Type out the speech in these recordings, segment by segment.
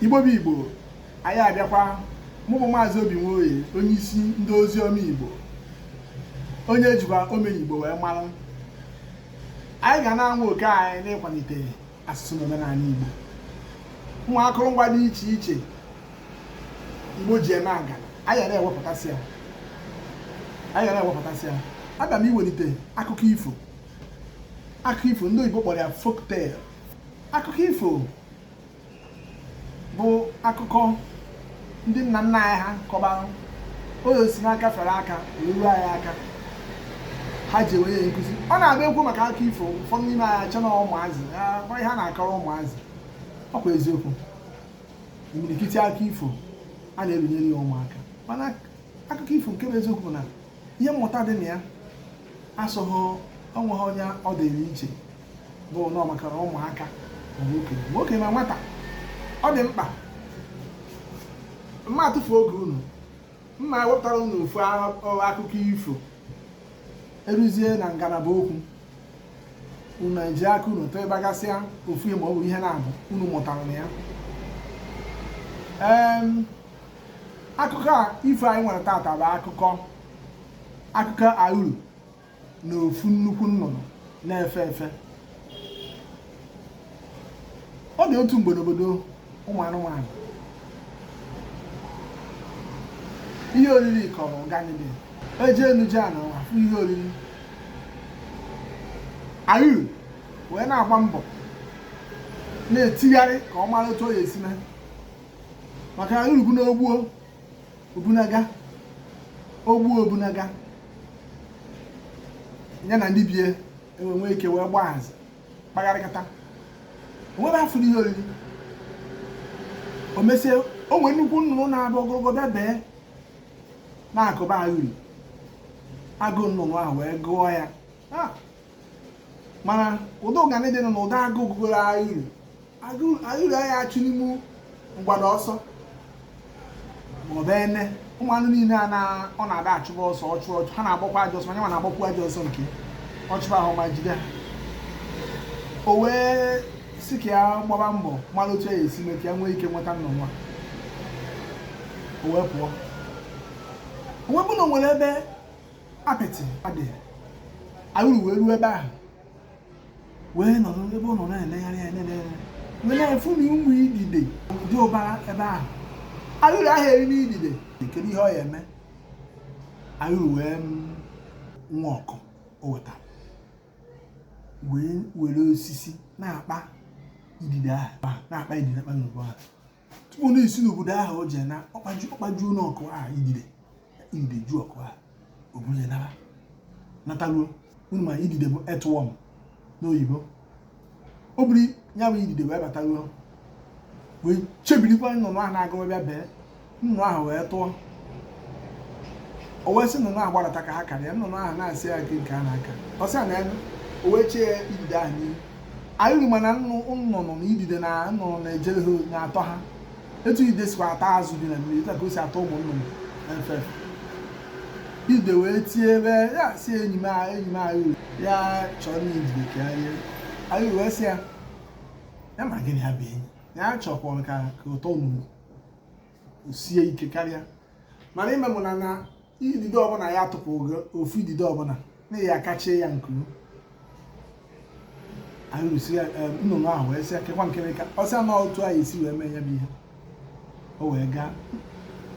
igbo bụ igbo anyị abịakwa mụ bụ maazị obi nwoye onye isi ndị ozi ọma igbo onye jikwa omenigbo wee mara anyị ga na-anwa oke anyị n'ịkwalite asụsụ na omenala igbo ụmụ akụrụngwa dị iche iche igbo ji eme aga anyị na-ewepụtasị ya anyị ga na-ewepụtasị ya aga m iwelite akụkọ ifo akụkọ ifo ndị oyibo kpọrọ ya folktale akụkọ ifo bụ akụkọ ndị nna nna anyị ha kọbara o wee si n'aka fere aka eruo anyị aka ha ji enwe ya nkụzi ọ na-abụ e kwuo maka akụkọ ifo ụfọdụ n'ime anyị eche na ụmụazị bụ ihe a na-akọrọ ụmụazị ọ bụ eziokwu imirikiti akụkọ ifo a na-ebunyere ya ụmụaka mana akụkọ ifo nke bụ eziokwu bụ na ihe mmụta dị na ya asọghị o nweghị onye ọ dịrị iche bụ na ọ maka ụmụaka okenye na nwata ọ dị mkpa m ma atụfu oge unu ma wepụtara unu ofu akụkọ ifo eruzie na ngalaba okwu unu eji aka unu type bagasịa ofu ihe ma ọ bụ ihe naabọ unu mụtara na ya akụkọ ifo anyị nwere tata bụ akụkọ akụkọ awuru na ofu nnukwu nnụnụ na-efe efe ọ dị otu mgbe n'obodo ụmụ anụmanụ ihe oriri kọrọ ụganị dị ejee n'uje a na afụ ihe oriri awuru wee na-agba mbọ na-etigharị ka ọ mara otu ọ ya esi mee maka awuru bụ na ogbuo obunaga ogbuo obunaga ya na ndị bie enwere nwee ike wee gbaa hazi kpagharịkata o nwebe afụ ihe oriri o mesie o nwere nnukwu nnụnụ na-abụ ogologo bịa bee n'akụkụ awuru agụụ nnụnụ ahụ wee gụọ ya mana ụdị ụganị dị na ụdị agụụ gụgoro awuru awuru aya achụnwu mgbada ọsọ ma ọ bụ ene ụmụ anụ niile a na ọ na-adị achụba ọsọ ọ chụọ ọ chụọ ha na-agbakwa ajọ ọsọ ma nya nwa na-agbakwa ajọ ọsọ nke ọ chụba ha ọ ma jide ha o wee sị ka ya gbaba mbọ mara otu ya esi mee ka ya nwee ike nweta nnụnụ a o wee pụọ o wee bụ na o nwere ebe apịtị adị awụrụ wee ruo ebe ahụ wee nọrọ ebe ọ nọ na-elegharị anya na-elegharị wee na-afụ na ụmụ idide dị ụbara ebe ahụ awụrụ aha eri idide kedu ihe ọ ya-eme awụrụ wee were ọkụ o wetara wee were osisi na-akpa idide ahụ na-akpa idide akpa n'ugbo ahụ tupu na isi n'obodo ahụ o jee na ọ kpaju ọ kpajuo ọkụ ahụ idide idide ju ọkụ ahụ o buru ya naba nataruo ụnọ ma idide bụ earthworm n'oyibo o buru ya bụ idide wee bataruo wee chebiri ka nnụnụ ahụ na-agawa bịa bee nnụnụ ahụ wee tụọ o wee sị nnụnụ ahụ gbarata ka ha kaa nnụnụ ahụ na-asị ya nke nke a na-aka ọ sị ya na ya o wee chee ya idide ahụ n'ihu anyị ma na nnụ nnụnụ na idide na nnụnụ na-ejere ha na-atọ ha etu ide sikwa atọ azụ dị na mmiri etu a ka o si atọ ụmụ nnụnụ efe ide wee tie ebe ya sị enyi m a- enyi m anyị ya chọọ na idide ka ya rie awụrụ wee sị ya ya ma gịnị ya bụ enyi ya chọkwara ka ka ụtọ nnụnụ o sie ike karịa mana ime mụ na na idide ọbụla ya tụpụ ofu idide ọbụla na ya akpachie ya nku awụrụ sị ya nnụnụ ahụ wee sị akekwa nkịrịka ọ sị na otu anyị esi wee mee ya bụ ihe o wee gaa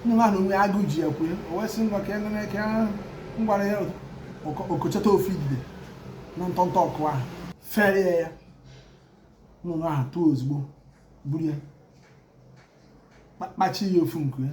nnụnụ ahụ onwe agụụ ji ya kwue o wee sị ngwa ka enene ka ngwara ya o kochata ofu idide na ntọntọ ọkụ ahụ fere ya ya nnụnụ ahụ tụọ ozugbo buru ya kpachie ya ofu nku ya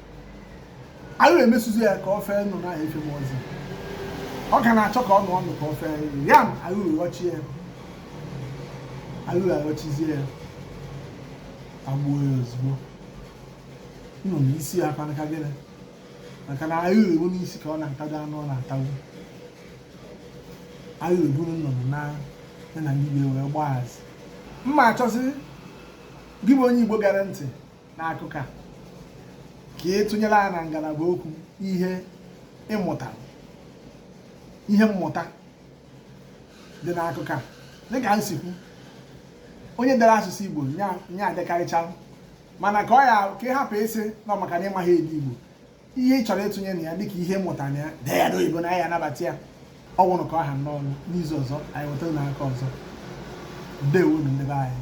awụrụ emesizie ya ka ọ fee nụ n'ahịa ife mmụọ ozi ọ ka na-achọ ka ọ nụ ọnụ ka ọ fee nụ ya ma awụrụ ghọchie ya awụrụ aghọchizie ya agbuo ya ozugbo nọ n'isi ya ọ kwa maka gịnị maka na na-ebu n'isi ka ọ na-atagbu anụ ọ na-atagbu awụrụ eburu nnụnụ na ya na ndị wee gbaa azị m achọzi gị bụ onye igbo gara ntị n'akụkọ a ka ị tụnyere anyị na ngalaba okwu ihe ị mụta ihe mmụta dị n'akụkọ a dịka m si ekwu onye dere asụsụ Igbo ọ ya-adịkarịcha mana ka ọ ya ka ị hapụ ịsị na maka na ị maghị ede Igbo ihe ị chọrọ ịtụnye na ya dịka ihe mmụta na ya dee ya n'oyibo anyị ya-anabata ya ọ nwụrụ ka ọ ha n'ọnụ n'izu ọzọ anyị ewetara unu akụkọ ọzọ ndewonụ ndị be anyị